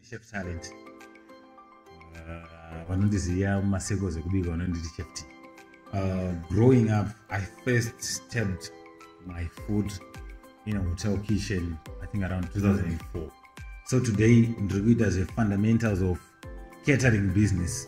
Chef Talent. Uh, vanondiziva mumaseko zvekubika vanonditi Chef T. Uh, growing up, I first stepped my food in a hotel kitchen, I think around 2004. So today, ndiri kuita zvefundamentals of catering business.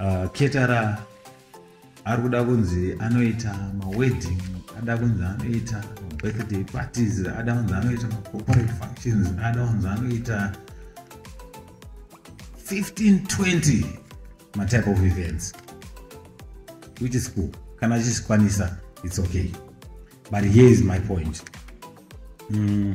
uh, ketara ari kuda kunzi anoita mawedding ada kunzi anoita mabirthday parties ada kunzi anoita macorporate functions ada kunzi anoita 1520 matype of events which is cool kana achizvikwanisa it's okay but here is my point mm.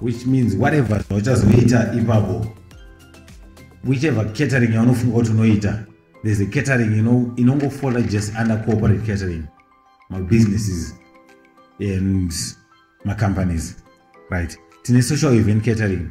which means whatever zvauchazoita ipapo whichever catering yaunofunga kuti unoita there's a catering inongofola ino just under corporate catering my businesses and my companies right tine social event catering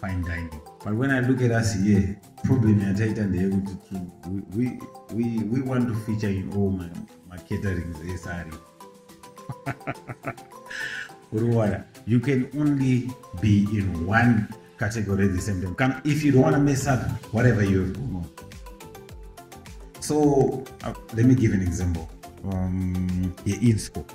fine dining but when i look at us here problem yataita ndeyekuti we, we, we want to feature in all my, my caterings ese ari uriwana you can only be in one category at the same time kana if you don't want to mess up whatever you have gone on so uh, let me give an example um, yeinsco yeah,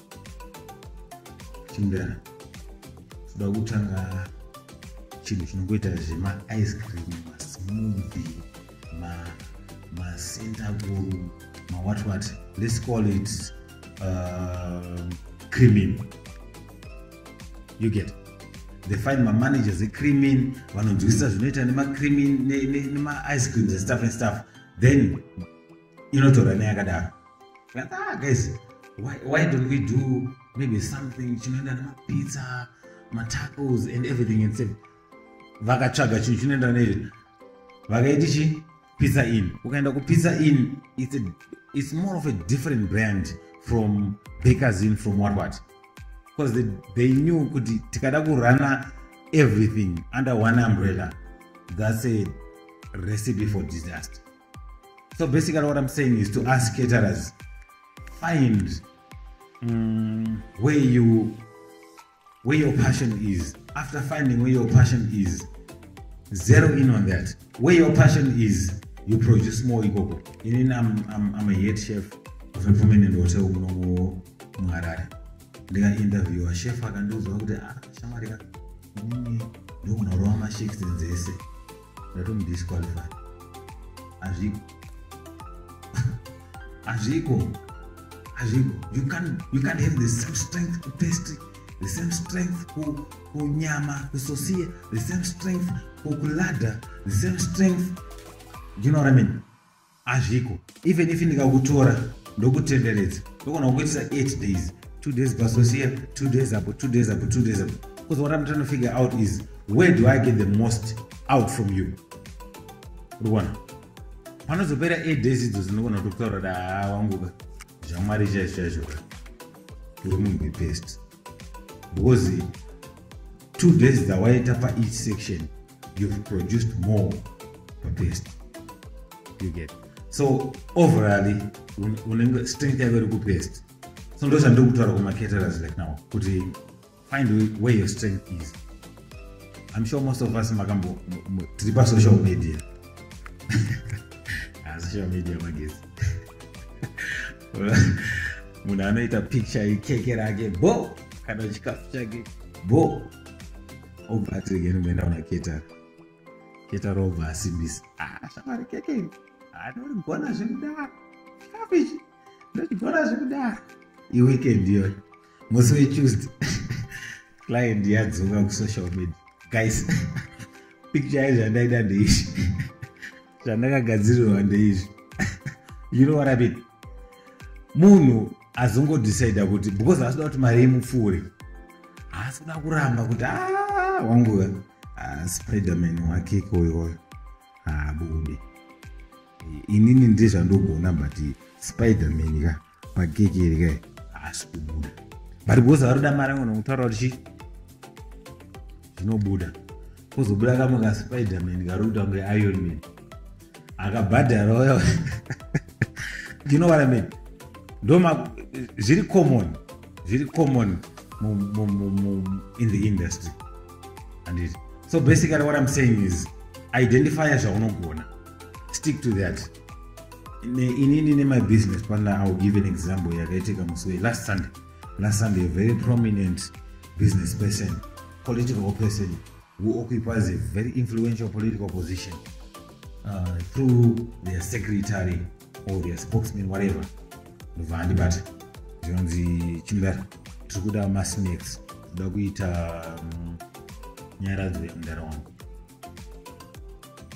chimdana toda kutanga chinhu chinongoita zvemaice cream masmovi masentaguru mawhat what let's call it uh, creamin you get they find mamanagers ecreamin vanonzwisisa zvinoita nemacreamin nemaice creams and stuff and stuff then inotora neyakadaro ah, guys why, why don't we do maybe something chinoenda nemapizza matacos and everything and same vakatsvaga chinhu chinoenda nezvi vakaiti chi pizza in ukaenda kupizza in it's, a, it's more of a different brand from bakers in from what what because they, they knew kuti tikada kurana everything under one umbrella that's a recipe for disaster so basically what i'm saying is to us caterers find um, where you where your passion is after finding where your passion is zero in on that where your passion is you produce more ikoko inini I'm, I'm, i'm a head chef of a permanent hotel munomu muharare ndikainterviewa chef akandiudzwa kuti ah, shamarika inini ndokunorova mashifts dzese ndatomudisqualify hazviko hazviko hazviko you can you can have the same strength to taste the same strength ku kunyama kusosie the same strength ku kulada the same strength do you know what i mean Hazviko. Even if ndikakutora ndokutenderedza ndogona kukuitisa 8 days. 2 days pasosiya, 2 days apo, 2 days apo, 2 days apo. Because what I'm trying to figure out is where do I get the most out from you? Ruwana. Panozopera 8 days idzo dzinogona kutokutaura kuti haa wanguka. Zvamwari chaizvo chaizvo. Uri munhu wepest. because two days dzawaita pa each section you've produced more papest you get so overally unenge strength yako iri kupest so ndo zvandiri kutaura kumacaterers like now kuti find where your strength is i'm sure most of us makambo tiri pasocial media ah, social media magezi munhu anoita picture yekeke rake bo kana chikafu chake bo obva ati regei nomboenda kuna ketara ketara obva asimbisa ah, shamwari keke iri anorigona ah, zvekudaro chikafu ichi ndochigona zvekudaro iweekend iyoyo musi wetuesday client yadzoka kusocial media guys picture yayo zvandaida ndeizvi zvandakagadzirirwa ndeizvi you know what i mean munhu azongodecida kuti because asida kuti mari yemupfuure haasi kuda kuramba kuti ah, wangu ah, spiderman wake ikoyoyo haabude ah, inini ndizvandogona but spiderman ka magege iri kai haasi kubuda but because vari kuda mari yangu nokutaura kuti chii zvinobuda kuzobuda kamwe kaspiderman kari kuita kunge iron man akabhadhara uya you know what i mean ndoma zviri common zviri common in the industry anditi so basically what i'm saying is identifya zvaunogona stick to that inini nemy business partner iwill give an example yakaitika musi wei last sunday last sunday a very prominent business person political person who occupies a very influential political position uh, through their secretary or their spokesman whatever ndobva andibata zvinonzi chimudara tiri kuda masnacks kuda kuita um, nyaradzo yamudara wangu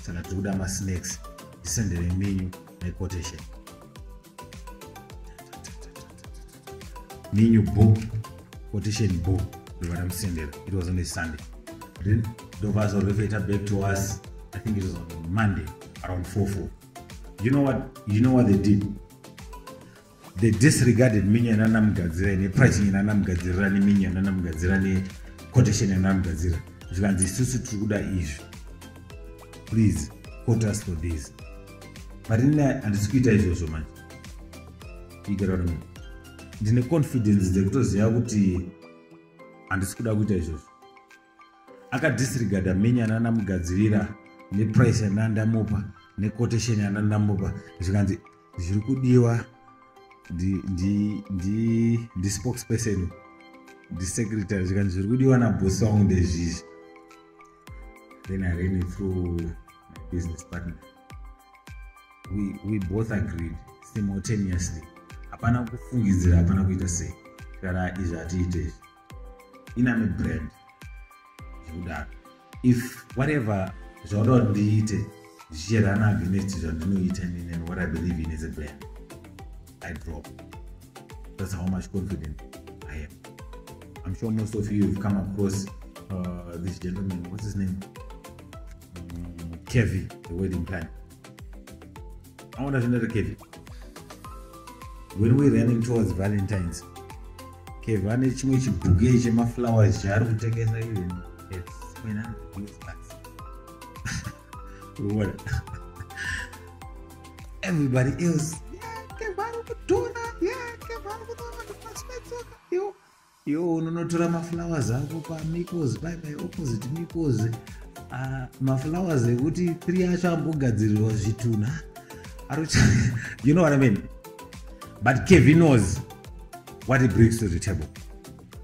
saka tiri kuda masnacks tisendere minyu nequotation minyu bo quotation bo ndobva tamusendera it was on a sunday then ndobva azorefeta back to us i think it was on monday around 44 you know what you know what they did they disregarded minyo yanana mugadzira ine pricing yanana mugadzirira neminyo yanana mugadzira nequotation yanana mugadzira zvikanzi isusu tiri kuda izvi please quote us for this but ine handisi kuita izvozvo manje igerarami ndine confidence dzekutoziva kuti handisi kuda kuita izvozvo akadisregada menya nanamugadzirira neprice yandandamupa nequotation yandandamupa zvikanzi zviri kudiwa ndispokesperson ndisecretary zvikanzi zviri kudiwa nabosi wangu ndezvizvi then i ran it through my business partner we, we both agreed simultaneously hapana kufungidzira hapana kuita sei kana izvi hatiite izvi inami brand zvekudaro if whatever zvauda kuti ndiite zvichirana against zvandinoita nini and what i believe in as a brand i drop that's how much confident i am i'm sure most of you have come across uh, this gentleman what's his name um, mm, kevy the wedding planner aona zvinoita kevin when we running towards valentines kevin ane chimwe chibhuke chemaflowers chaari kutengesa even everybody else Yo unonotora maflowers ako pamikos pai pai opposite mikos uh, ah, maflowers ekuti three acho ambogadzirirwa zvitunha arucha you know what i mean but kevi knows what he brings to the table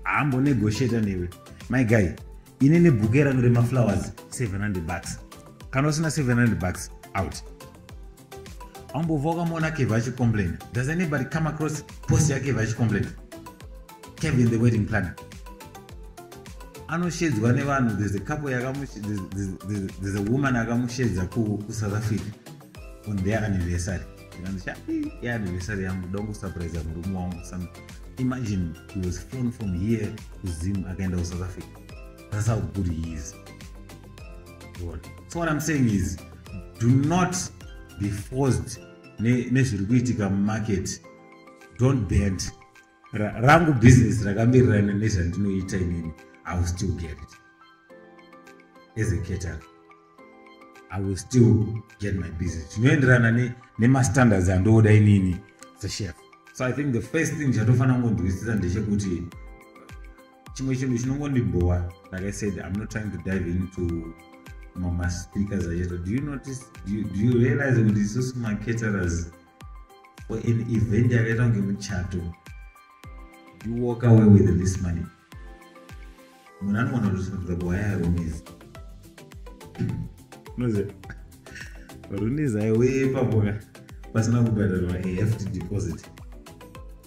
haambonegotiata newe my guy ini nebhuke rangu remaflowers 700 bucks kana usina 700 bucks out ambova wakamona kevha achicomplaina does anybody come across post yakevha achicomplaina kevin the wedding planner anoshedzwa nevanhu there's a couple yakamu there's a woman akamushedza kusouth africa on their anniversary ndikanzi sha yeanniversary yangu dongo surprise murume wangu some imagine he was flown from here to zim akaenda kusouth africa that's how good he is God. so what i'm saying is do not be forced nezviri kuitika mumarket don't bend rangu business rakamirirana nezvandinoita inini i will still get it as a cater i will still get my business zvinoenderana nemastandards andooda inini sechef so i think the first thing chatofanira kungonzwisisa ndechekuti chimwe chinhu chinongondibhowa like i said i'm not trying to dive into mamaspeakers acheto do you notice do you, do you realize kuti isusu macaterers for an event yakaita kunge muchato you walk away with this money munhu anoona kuti zvinobva kuhaya yarumisi noze runizaiwe paboka pasina kubhadharwa a hefty deposit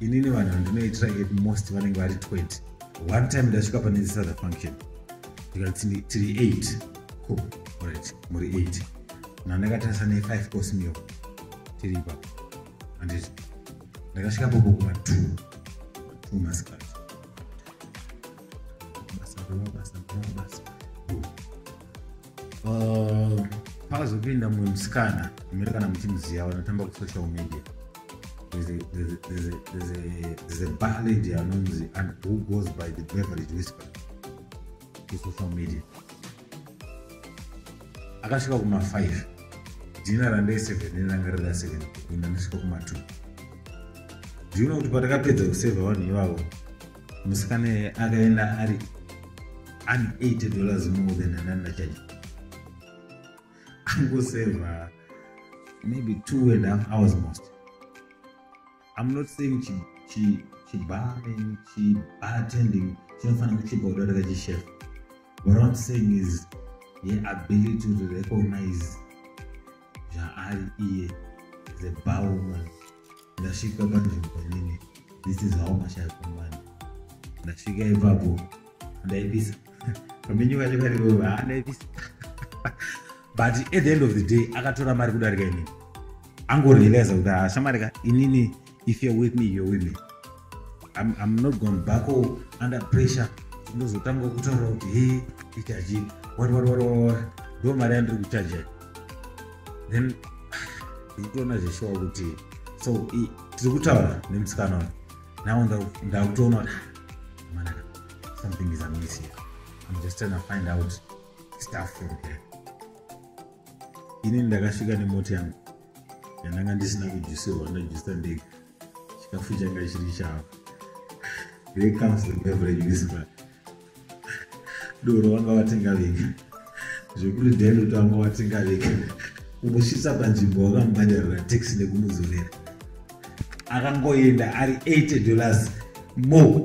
inini vanhu vandinoitira at most vanenge vari 20 one time ndasvika pane this other function ndikati tiri 8 cool right muri 8 na ndakatarisa ne 5 course meal tiri ipapo anditi ndakasvika popo kuma 2 2 masikati basa basa basa uh, pakazopinda mumwe musikana amere kana muchimuziva vanotamba kusocial media there's a bar lady anonzi and who goes by the beverage whisper kusocial media akasvika kuma 5 dina randai 7 ranga rida 7 ina ndasvika kuma 2 ndiona kuti patakapedza kuseva vanhu ivavo musikana akaenda ari ani 80 dollars more than anani nachaji angoseva maybe two and half hours most i'm not saying chi, chi, chibaring chibartending chinofanira kuchipa kuda kuti kachishef what i'm saying is the ability to recognize zvaari iye the bowman ndasvika panzvimbo nini this is how much i command ndasvika ipapo ndaipisa pamenyu vacho karivo ha ndaipisa but at the end of the day akatora mari kudarika inini angorealiza kuti hashamari ka inini if you're with me you're with me I'm, I'm not going back or oh, under pressure ndozotanga kutaura kuti he ichaji what what what what ndo mari yandiri kuchaja then ndikutoona zveshuwa kuti so tiri kutaura nemusikana uyu now ndakutoona kuti ah, manaka something is amiss here i'm just trying to find out stuff from here ini ndakasvika nemoti yangu yandanga ndisina kujusirwa ndajusa ndega chikafu changa chiri chavo here comes the beverage whisper doro vanga vatenga vega zvekuti dendo tanga watenga vega unosvitsa panzvimbo wakamubhadharira taxi nekumudzorera akangoenda ari 80 dollars more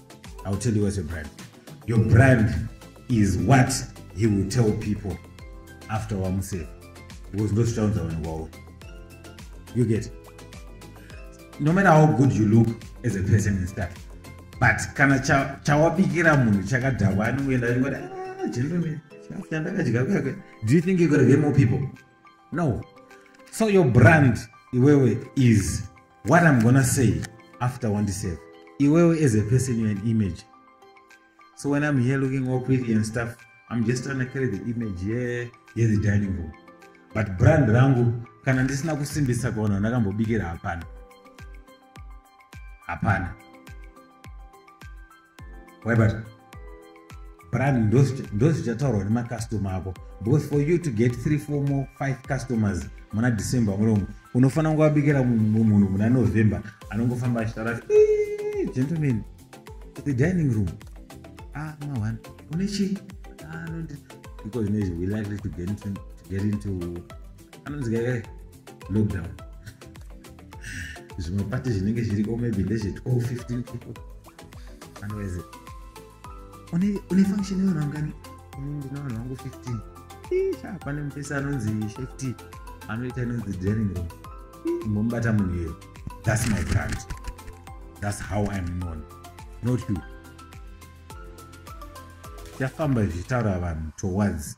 I'll tell you what's your brand. Your brand is what he will tell people after wamusave because no sounds are on wow. You get it? No matter how good you look as a person and stuff, but kana chawabikira munhu chakadhakwa anongoenda achingoti ah, gentleman chandakadya kuyakwe do you think you're gonna get more people no so your brand iwewe is what i'm gonna say after wandisave iwewe as a person you're an image so when i'm here looking all pretty and stuff i'm just trying to carry the image here here the dining room but brand rangu kana ndisina kusimbisa kuona ndakambobikira hapana hapana waibata brand ndozichataurwa nemacustomer ako because for you to get three four more five customers muna december munomu unofanira kunge wabikira munhu muna november anongofamba achitaura gentleman the dining room ah mawan une chii ah, because nezvi we likely to get into, to get into anonzi kaikai lockdown zvimwe pati zvinenge zviriko maybe ndezve 12 15 people anoweze une une function yona ngani ini ndina vanhu vangu 15 isha pane mupesa anonzi shefty anoita inonzi draining room imbomubata munhu iyoyo that's my brand that's how i'm known not you yafamba zvichitaura vanhu towards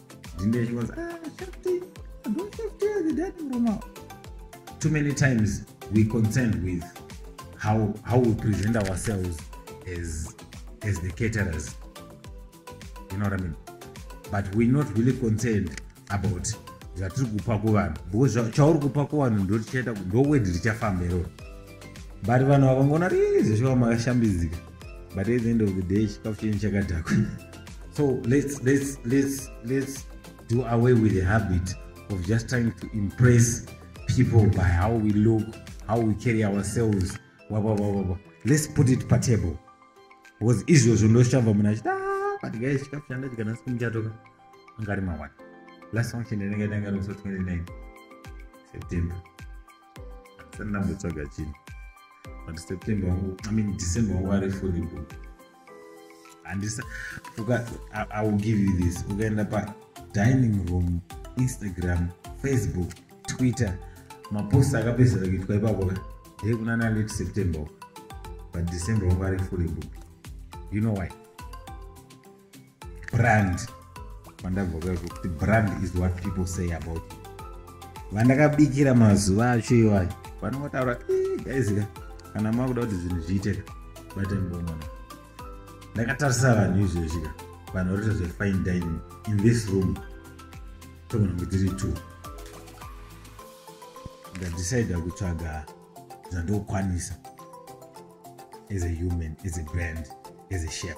Zinde chikonzi, ah, Shakti, don't Shakti has a dad room now. Too many times we contend with how, how we present ourselves as, as the caterers. You know what I mean? But we're not really concerned about zvatiri kupa kuvanhu because chauri kupa kuvanhu ndotichaita ndowedi richafamba iroro but vanhu vakangoona rizveshuwa makashambidzika but at the end of the day chikafu chenyu chakadhakwa so let's, let's, let's, let's do away with the habit of just trying to impress people by how we look how we carry ourselves wababababa let's put it patable because izvozvo ndoshamva munhu achiti ah, but guys chikafu chanda chikanasi kumuchatoka angari mawani last function yanenge yatanga nokuso 29 september sandambotsvaga chii but september wangu i mean december wangu ari fully booked handisa i will give you this ukaenda pa dining room instagram facebook twitter mapost akapedzera kuitwa ipapo ka ndee kuna na late september but december wangu ari fully booked you know why brand pandabva kuti brand is what people say about you vandakabikira mazuva acho iwayo vanongotaura gaizika kana makuda kuti zvinhu zviiteka batembomona ndakatarisa vanhu izvezvika vanhu varita zvefine dining in this room togona kunge tiri two ndadecida kutsvaga zvandokwanisa as a human as a brand as a chef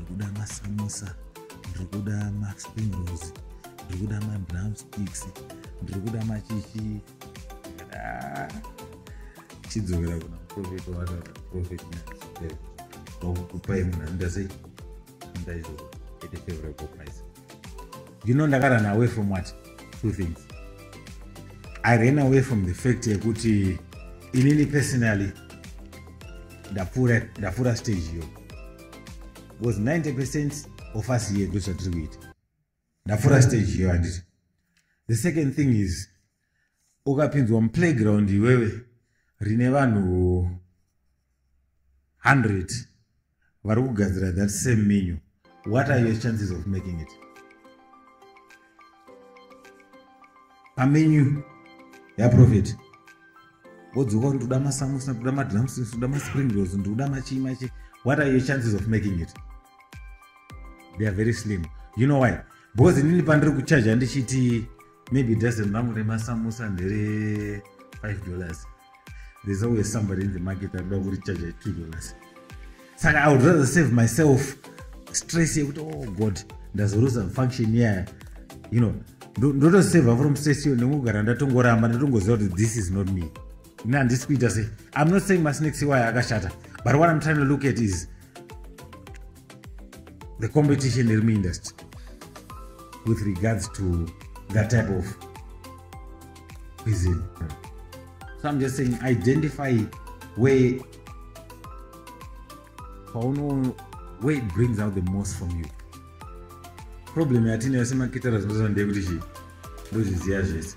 ndikuda masamusa ndikuda maspring rolls ndikuda madrum sticks ndikuda machichi ah, chidzokera kuna profet wataura profet nakukupai munhu andaze ndaizo ete favorable price you know ndakarun away from what two things i ran away from the fact yekuti inini personally ndapfuura ndapfuura stage iyo because 90 percent of us here ndozvatiri kuita ndapfuura stage iyo handiti the second thing is ukapinzwa muplayground iwewe rine vanhu 100 vari kugadzira that same menu what are your chances of making it pamenyu yaprofeti wodzoka kuti ndoda masamusa ndoda madramsins ndoda maspring rolls ndoda machii machii what are your chances of making it they are very slim you know why because inini pandiri kuchaja ndichiti maybe dozen rangu remasamusa ndere 5 dollars there's always somebody in the market akuda kuricharge 2 dollars saka i would rather save myself stress yekuti oh god ndazoruza function yaya you know ndotoseva from stress yo nekugara ndatongoramba ndatongoziva kuti this is not me ini handisi kuita sei i'm not saying masnakes iwayo akashata but what i'm trying to look at is the competition iri muindustry with regards to that type of cuisine so i'm just saying identify where pauno where it brings out the most from you problem yatinayo semakitara zvinozva ndeyekuti chii ndozviziva zvese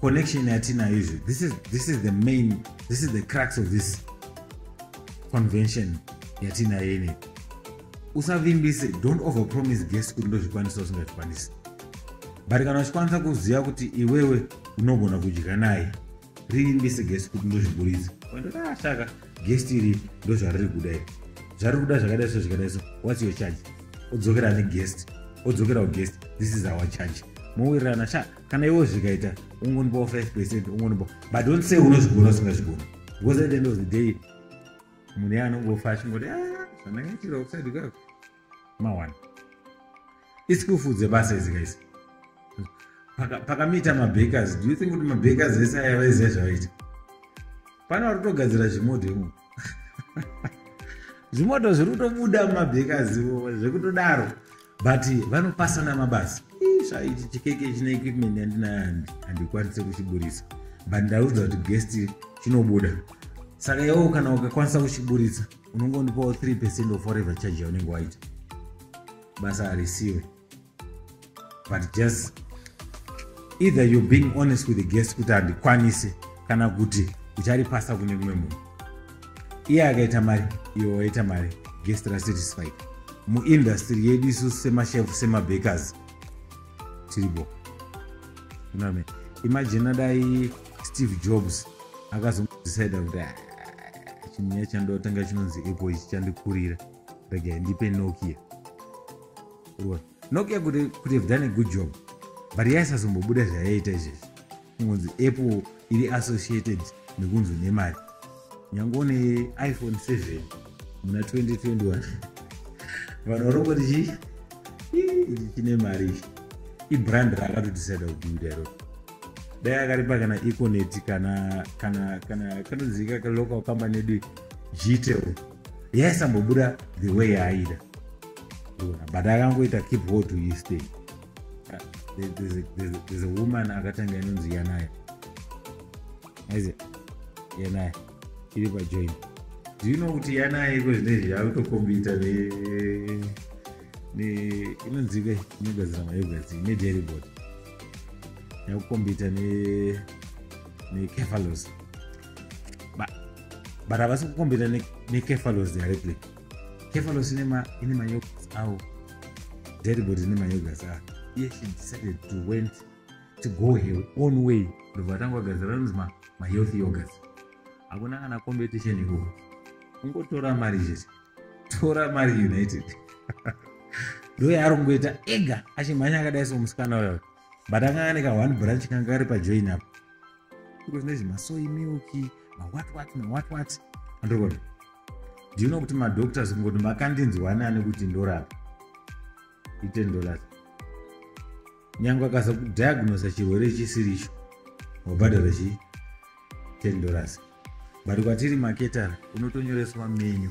connection yatinayo izvi this is, this is the main this is the crux of this convention yatinayo ini usavimbise don't over promise guest kuti ndozvikwanisa usingazvikwanisi but kana uchikwanisa kuziva kuti iwewe unogona kudya naye rivimbise guest kuti ndozviburitsa ndotashaka ah, guest iri ndozvariri kuda iri zvari kuda zvakadai so zvikadai so whats your charge odzokera neguest odzokera kuguest this is our charge mowirirana shaa kana iwo zvikaita ungonipawo 5 percent ungonipa but don't say unozvigona usingazvigona because at the end of the day munhu ye anongofa achingoti ah, zvandangaitira kuside kako mawana isikufu dzebasa idzi kaisi pakamita mabakers do you think kuti mabakers ese ayavaiziva zvavaita pano vari kutogadzira zvimoto imomo zvimoto zviri kutobuda mumabhekazi zvekutodaro but vanopasana mabasa svaiti chikeke chine equipment yandinayo handikwanise kuchiburitsa but ndaudza kuti guest chinobuda saka iwewo kana ukakwanisa kuchiburitsa unongondipawo 3 percent of whatever charge yaunenge waita basa harisiwe but just either you're being honest with the guest kuti handikwanise kana kuti ucharipasa kune mumwe munhu iye akaita mari iwe waita mari guest rasatisfied muindastry yedu isu semashef semabakers tiribo uname imagine adai steve jobs akazodecide kuti ah, chinyaya chandotanga chinonzi apple ichi chandikurira regai ndipe nokia urikuona nokia kuti kuti have done a good job but yaisazombobuda zvayaita izvezvi kungonzi apple iri associated nekunzi une mari nyange une iphone 7 muna 2021 vanhu varongoti chii ichi chine mari ichi ibrand raakatodisida kubuda iro dai akaripa kana econet kana kana kana kanozivika local company yedu gtel yaisambobuda the way yaaida but akangoita keep hold to his thing there's a woman akatanga inonzi yanayo aizi yanayo iri pajoin do you know kuti yanayo iko zvinezvi yakutokombita inonzika inogadzira mayogati nederibot yakukombita nekefalos but havasi kukombeta nekefalos directly kefalos ine mayogas awo deribod ine mayogas awo iye she decided to went to go her own way ndobva vatanga kugadzira anonzi mahealth yogas hakuna kana competition ikoko kungotora mari chete tora mari united ndoyaari kungoita ega achimhanya akadai somusikana uyo but akanga ane ka one branch kanga kari pajoin apo because nezve masoy milk mawhat what mawhat what andokona do you know kuti madoctors kungoti makandinzwani ane kuti ndorapa iten dollars nyange akaza kudiagnosa chirwere chisiri icho wabhadhara chii ten dollars but kwatiri maketara unotonyoreswa menyu